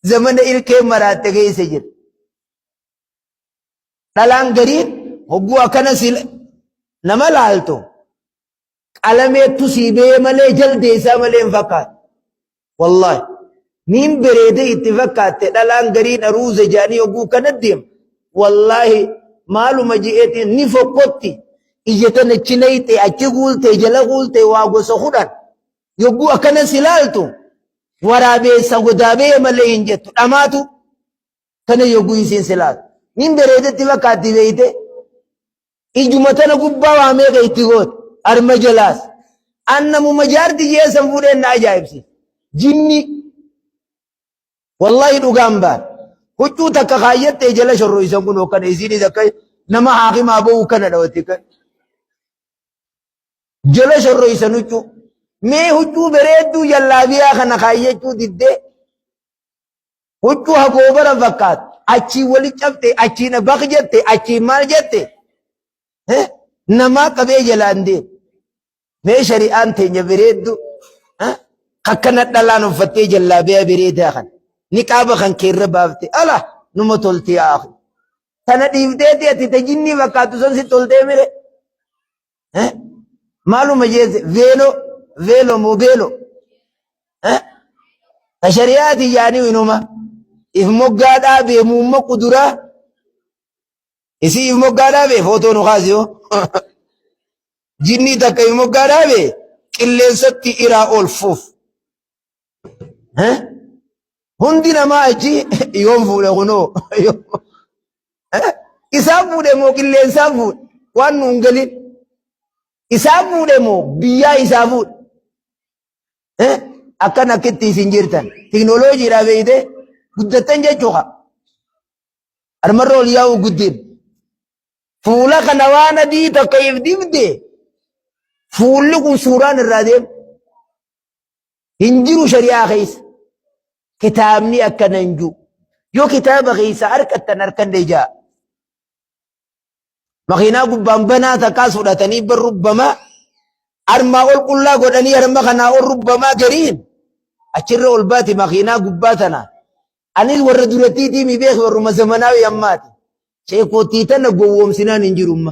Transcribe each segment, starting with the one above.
zamana ilkeen maraatte keessa jira. Dhalaan gariin hogguu akkana si nama laaltu qalameettu sii bee malee jaldeessaa malee hin fakkaatu. Wallaahi niin bareedee itti fakkaatte dhalaan gariin aruuza jaanii hogguu kana deemu. Wallaahi maaluma je'eetiin ni fokkotti ija tana achi nayxee achi guultee jala guultee waa gosa kudhan Yogguu akkanas ilaaltu waraabeessa godaa ba'e malee hin jettu dhamaatu kana yogguu isiin silaatu. Nin bareedetti fakkaatti beeyte ijuma tana gubbaa waa meeqa itti goote harma jalaas annamuma jaarti jeessan fuudheen na ajaa'ibsiisa. Jinni wallahi dhugaan baar huccuu takka kaayyattee jala shorroo isan kun hokkana isiinis akka nama haakimaa ba'uu kana dhawatti Jala shorroysan huccuu. Mee huccuu bereedduu jallaabiyaa kana kaayyachuu diddee huccuu hagoobara fakkaatu achiin wali cabte achiin baq jette achiin maal jette namaa qabee jalaan deemu. Mee shari'aan teenya bereeddu akkana dhalaan uffattee jallaabiyaa bereedaa kana niqaaba kan keerra baafte ala numa toltee aaku. Sana dhiifteeti ati ta jinnii fakkaattu san si toltee mire. Eh? Maaluma jeesse veeloo veeloo moo beeloo. Eh? Ta shari'aati yaanii inuma. If moggaa dhaabee muumma kuduraa. Isii if moggaa dhaabee footoo nu kaasi hoo. Jinnii takka if moggaa dhaabee qilleensatti iraa oolfuuf. Eh? Hundi namaa achi yoon fuudhe kunoo. Eh? Isaan fuudhe moo qilleensaan fuudhe? Waan nu hin galin. Isaan fuudhe moo biyyaa isaa fuudhe? Eh? Akkan akkitti isin jirtan. Teknooloojiidhaa beeyte guddattan jechuudha. Armarra ol yaa'uu guddin. Fuula kana waan adii takka if dibde fuulli kun suuraan irraa deema. hin jiru shari'aa keessa kitaabni akkana hin jiru yoo kitaaba keessa harkattan harkan deeja'a makiinaa gubbaan banaa takkaas fudhatanii bar rubbamaa armaa ol qullaa godhanii harma kanaa ol rubbamaa gariin achirra ol baati makiinaa gubbaa tanaa anis warra durattii diimii beeku warruma zamanaa yammaati sheekootii tana gowwoomsinaan hin jirumma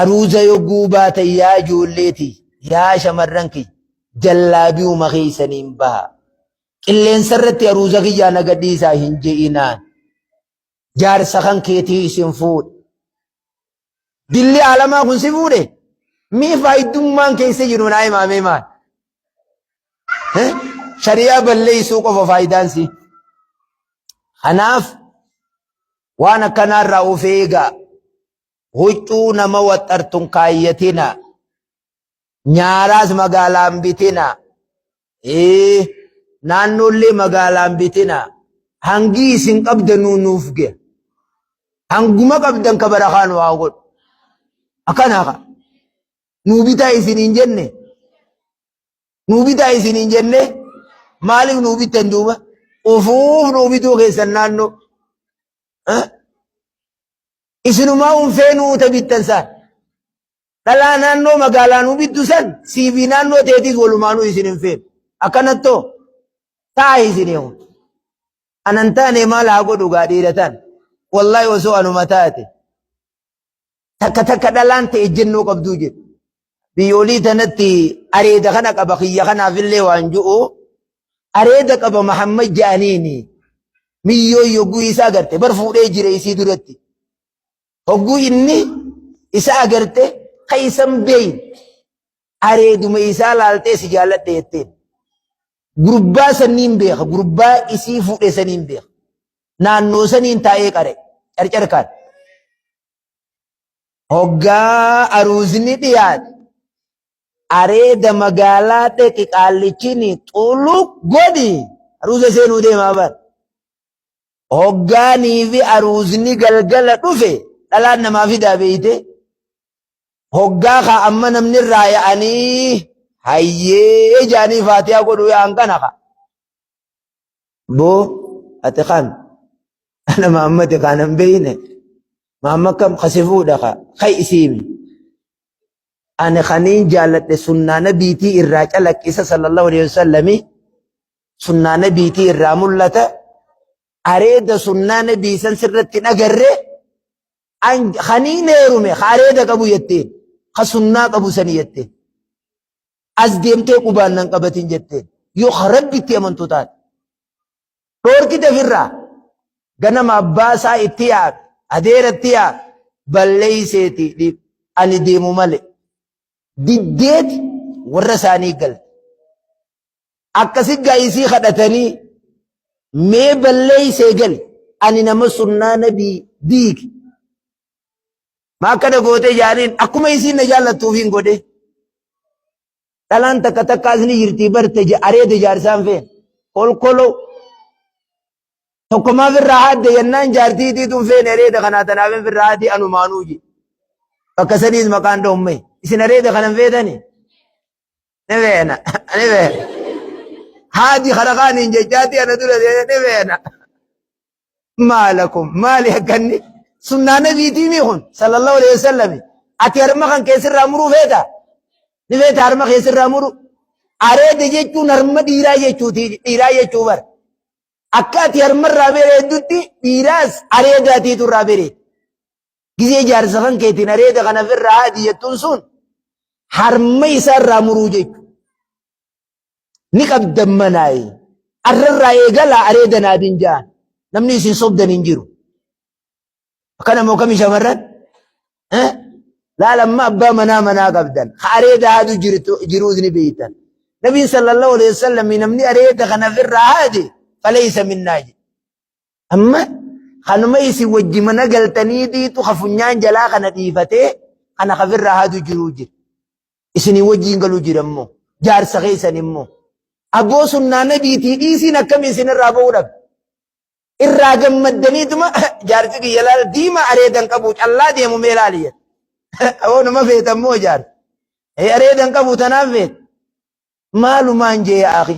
Aruuza yogguu baatan yaa ijoollee tiyya, yaa shamarran kiyya, jallaabiyuma keessaniin bahaa. Qilleensa irratti aruuza kiyyaa na gadhiisaa hin je'inaan. Jaarsa kan keetii isin fuudhe. Dilli aalamaa kun si fuudhe? Mee faayiddummaan keessa jiru naa himaamee maal? Eh? Shari'aa balleessuu qofa faayidaan si. Kanaaf waan akkanaarraa of eegaa. Huccuu nama waxxartun kaayyatina. Nyaaraas magaalaan bitina. Ee, naannoollee magaalaan bitina. Hangii isin qabdanuu nuuf gee. Hanguma qabdan ka barakaa nu haa godhu. Akkanaa ka. Nuu bitaa isin hin jenne. Nuu bitaa isin hin jenne. Maaliif nuu bittan duuba? Ufuuf nuu bituu keessan naannoo. Isinumaa un feenuu uta bittan saan. Dhalaa naannoo magaalaa nu bittu san CV naannoo teetiis walumaanuu isin hin feenu. Akkanattoo taa isin eegu. Anan taane maal haa godhu gaa dhiira taan. Wallahi osoo anuma taate takka takka dhalaan ta'e ejjennoo qabduu jedhu. biyyoolii tanatti areeda kana qaba kiyya kanaafillee waan ju'u areeda qaba Mahammad ja'aniini miyyoo yogguu isaa garte bar fuudhee jire isii duratti hogguu inni isa agarte kaysan beeyin areeduma isaa laaltee si jaalladhe jetteen gurbaa sanniin beeka gurbaa isii fuudhe saniin beeka naannoo saniin taa'ee qare carcarkaan Hoggaa aruuzni dhiyaate areeda magaalaa dheqi qaallichini xuluq godhi aruuza seenuu deemaa bar. Hoggaanii fi aruuzni galgala dhufe dhalaan namaa fidaa beeyte. Hoggaa kaa amma namni irraa ya'anii hayyee jaanii faatiyaa godhuu yaa'an kana kaa. Boo ati kaan ana maammati kaan hin beeyne maamma kam kasi fuudha ka kai isiimi. Ani kaniin jaalladhe sunnaa nabiitii irraa calaqqisa sallallahu alaihi wasallami sunnaa nabiitii irraa mul'ata areeda sunnaa nabii san sirratti hin agarre kaniin heerume ka areeda qabu jetteen ka sunnaa qabu sani jetteen. As deemtee qubaan nan qabatin jetteen. Yoo ka Rabbitti amantu taate. Dhoorkite firraa. Ganama abbaa isaa itti yaame. Adeera itti yaame. Balleeyseeti dhiif. Ani deemu male. Diddeeti warra isaanii galte. Akkasi gaayisii kadhatanii mee balleeysee gali. Ani nama sunnaa nabii diigi. Maa kana gootee jaaniin akkuma isiin na jaallattuufiin godhee. Dhalaan takka takkaas ni jirti barte areeda jaarsaan feen kolkoloo. Tokkomaaf irraa haadde yennaan jaartii itiituun feen areeda kanaa tanaaf hin firraa haati anumaanuu je. Bakka saniis maqaan dhoomme isin areeda kanan feetani. Ni feena ni feena. Haati kana kaaniin jechaatti ana dura ni feena. maalakum maali akkanni sunnaa nabiitii mii kun sallallahu alaihi wasallam ati harma kan keessirraa muruu feeta ni feeta harma keessirraa muru areeda jechuun harma dhiiraa jechuuti dhiiraa jechuu bar akka ati harmarraa bereeddutti dhiiraas areedaatiitu irraa bereed gizee jaarsa kan keetiin areeda kanafirraa haadi jettuun sun harma isaarraa muruu jechu ni qabdan manaayi arrarraa eegalaa areeda naabin ja'an namni isin sobdan hin jiru akkana moo kami shamarran laala amma abbaa manaa manaa qabdan ka areeda haadu jiruus ni beeytan nabiin sallallahu alaihi wasallam namni areeda kana firraa haade faleeysa minnaa jedhe amma kanuma isin wajji mana galtanii diitu ka funyaan jalaa kana dhiifatee kana ka firraa haadu jiruu jira isinii wajjiin galu jirammo jaarsa keessan immoo aboo sunnaa nabiitii dhiisiin akkami isin irraa ba'uu dhabe irraa gammaddaniituma jaarsi kiyya laala diimaa areedan qabu callaa deemu mee laali jedhe awoo nama feetan moo jaarsi areedan qabu tanaan feet Maalumaan jee yaa akhi.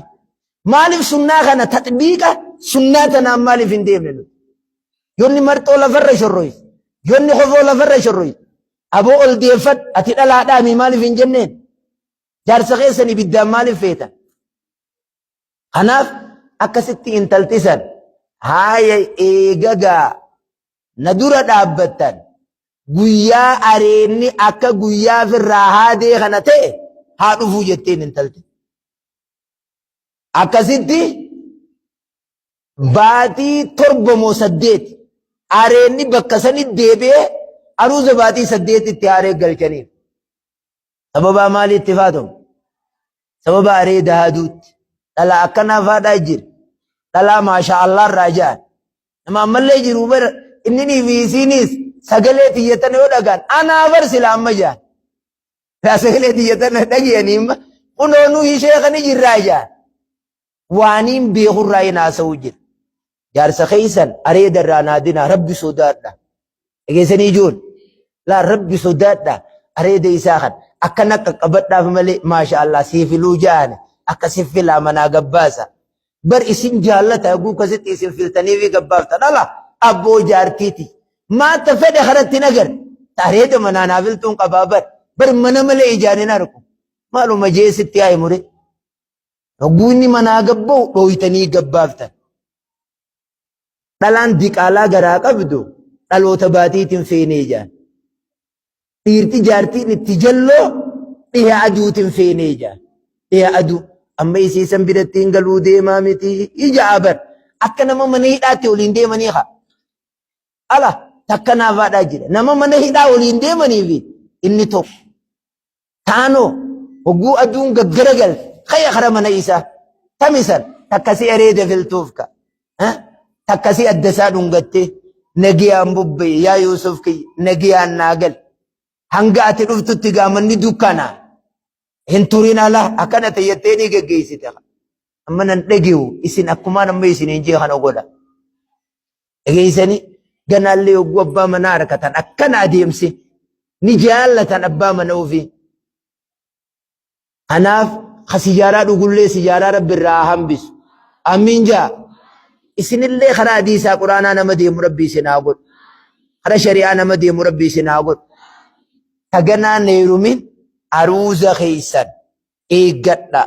Maalif sunnaa kana taxbiiqa sunnaa tanaan maalif hin deemne nuti. Yonni marxoo lafarra shorroyse. Yonni kofoo lafarra shorroyse. Aboo ol deeffadh ati dhalaa dhaami maalif hin jenneen. Jaarsa keessan ibiddaan maalif feetan. Kanaaf akkasitti intaltisan haaya eegagaa na dura dhaabbattan guyyaa areedni akka guyyaa firraa haadee kana ta'e haa dhufuu jetteen intalti. Akkasitti baatii torba moo saddeet areedni bakka sanitti deebi'ee aruuza baatii saddeetitti aaree galchaniif. sababaa maalii itti faatamu sababa aree daaduutti dhala akkanaa faadhaa jira dhalaa maashaa allaa irraa ja'an nama ammallee jiru bara inni fi isiiniis sagalee tiyyatan yoo dhagaan anaa bar sila amma ja'an yaa sagalee tiyyatan dhagiyanii imma kunoo nu ishee kan jirraa ja'an Waaniin beekurraa hin haasa'uu jedhe. Jaarsa keessan areeda irraa naa dinaa rabbi sodaadha. Dhageessanii ijoon. Laa rabbi sodaadha areeda isaa kan akka na qaqqabadhaaf malee maasha Allah siifiluu jaane akka siffilaa manaa gabbaasa. Bar isin jaallata haguu kasitti isin filtanii fi gabbaaftan ala abboo jaartiiti. Maata fedhe kanatti hin agarre. Areeda manaa naa filtuun qabaa bar. Bar mana malee ijaan hin argu. Maaluma jee sitti haa himure. Hogguu inni manaa gabba'u dhooytanii gabbaaftan. Dhalaan diqaalaa garaa qabdu dhaloota baatiitiin feenee ijaan. Dhiirti jaartiin itti jalloo dhiha aduutiin feenee ijaan. Dhiha aduu amma isii san biratti hin galuu deemaa miti ija abar akka nama mana hidhaatti waliin deemanii haa. Ala takka naafaadhaa jira. Nama mana hidhaa waliin deemanii fi inni tokko. Taanoo hogguu aduun gaggara galte kaya kara mana isaa tamisan takka si eree deviltuuf ka takka si adda isaa dhungattee nagiyaan bubbee yaa Yuusuf kiyya nagiyaan naa gal hanga ati dhuftutti gaamanni dukkana hin turin alaa akkana tayyattee ni geggeessite amma nan dhageewu isin akkumaan amma isin hin jee kana godha. Dhageessanii ganaallee yogguu abbaa manaa arkatan akkana adeemsi ni jaallatan abbaa mana ofii. Kanaaf ka sijaaraa dhugullee sijaaraa rabbi irraa haa hambisu. Amiin jaa. Isinillee karaa hadiisaa quraanaa nama deemu rabbi isin haa godhu. Karaa shari'aa nama deemu rabbi isin haa godhu. Taganaa neerumin aruuza keessan eeggadhaa.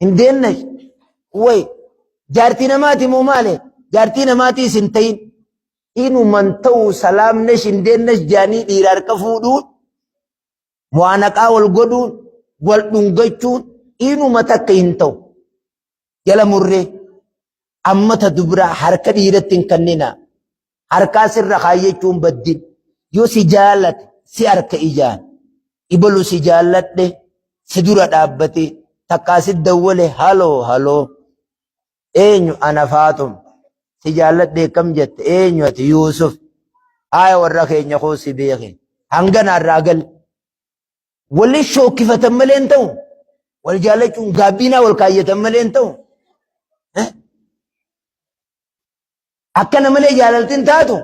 hin deennash way jaartii namaati moo maale jaartii namaatii isin tayin inuman ta'u salaamnesh hin deennash jaanii dhiira harka fuudhuun mu'aanaqaa wal godhuun wal dhungachuun inuma takka hin ta'u jala murree amma ta dubraa harka dhiiratti hin kannina harkaa sirra kaayyachuun baddin yoo si jaalate si harka ijaan ibalu si jaalladhe si dura dhaabbate takkaa si dawwale haloo haloo eenyu ana faaxum si jaalladhe kam jette eenyu ati yuusuf haaya warra keenya koo si beeke hangana irraa gal waliin shookkifatan malee hin ta'u wal jaallachuun gaabbiinaa wal kaayyatan malee hin ta'u Akkana malee jaalalti hin taatu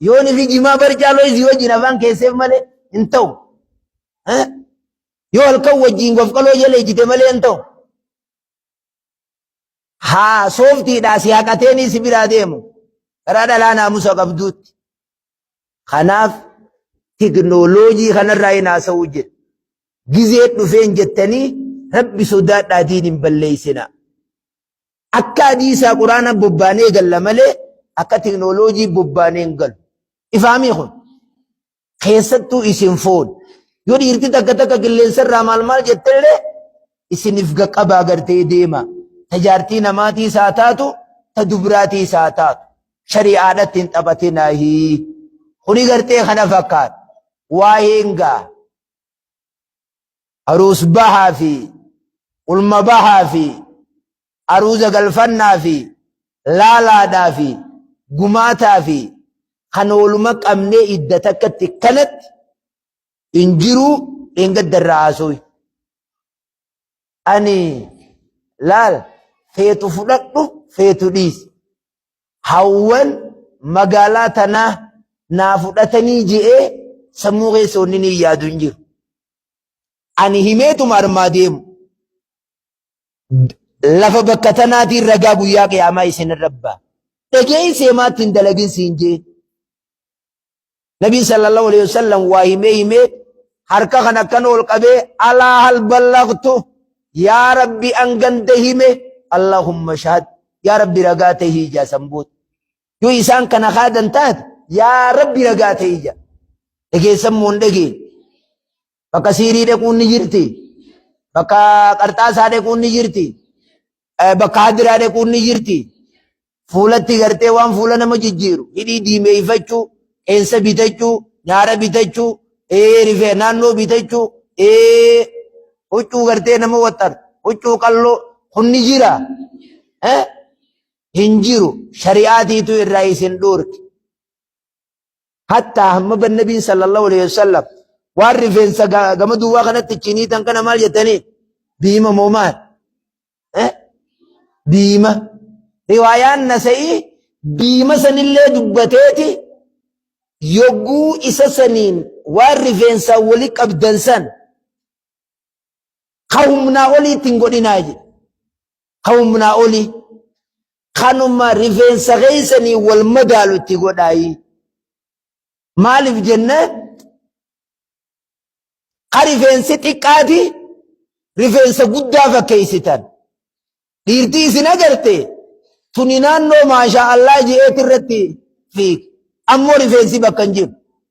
yoon fi jimaa bar caaloo isii wajjin afaan keesseef malee hin ta'u. Yoo halkan wajjin gofqaloo jala ijjite malee hin ta'u. Haa sooftiidhaa si haqateenii si biraa deemu karaa dhalaa naamusa qabduutti. Kanaaf teknooloojii kanarraa hin haasa'uu jedhe. Gizee dhufeen jettanii rabbi sodaadhaatiin hin balleessinaa. Akka hadiisaa quraanaan bobbaanee galla malee akka teknooloojii bobbaanee hin galu. Ifaamii kun keessattuu isin foon yoo dhiirti takka takka qilleensarraa maal maal jettellee isiniif gaqqabaa gartee deema. Tajaartii namaatii isaa taatu ta dubraatii isaa taatu shari'aadhatti hin taphatinaahii. Kuni gartee kana fakkaata. Waa'een gaa aruus bahaa fi ulma bahaa fi aruuza galfannaa fi laalaadhaa fi gumaataa fi kan ooluma qabnee idda takkatti kanatti hin jiruu dheengadda irraa haasooyi. Ani laal feetu fudhadhu feetu dhiisi. hawwan magaalaa tanaa naa fudhatanii je'ee sammuu keessa wanni ni yaadu hin jiru. Ani himeetuma armaa deemu. Lafa bakka tanaatiin ragaa guyyaa qiyaamaa isinirra ba'a. Dhaga'ii seemaatti hin dalagin siin je'e. Nabiin sallallahu alayhi wa sallam waa himee himee harka kan akkan ol qabee alaa hal ballaqtu yaa rabbi an ganda hime allahumma shahad yaa rabbi ragaa ta'e ijaa san booda yoo isaan kana kaadan taate yaa rabbi ragaa ta'e ija dhageessan moo hin dhageenye Bakka siirii dhequun ni jirti. Bakka qarxaasaa dhequun ni jirti. Eh, Bakka hadiraa dhequun ni jirti. Fuulatti gartee waan fuula nama jijjiiru. Hidhii diimeeffachuu, qeensa bitachuu, nyaara bitachuu, eh, rifee naannoo bitachuu, eh, huccuu gartee nama waxxan, huccuu qalloo kun ni jira. Eh? Hin jiru. Shari'aatiitu irraa isin dhoorke. Hattaa hamma ban nabiin sallallahu alaihi wasallam waan rifeensa gama duwwaa kanatti chiniitan kana maal jettanii diima moo maal? Diima. Riwaayaan nasa'ii diima sanillee dubbateeti yogguu isa saniin waan rifeensaa wali qabdan san ka humnaa oliitti hin godhinaa jedhe. ka humnaa olii kanuma rifeensa keessanii wal madaalu itti godhaayii maaliif jennaan ka rifeensi xiqqaati rifeensa guddaa fakkeessitan dhiirtii isin agarte tuni naannoo maashaa allaa je'eet irratti fiig ammoo rifeensi bakka hin jiru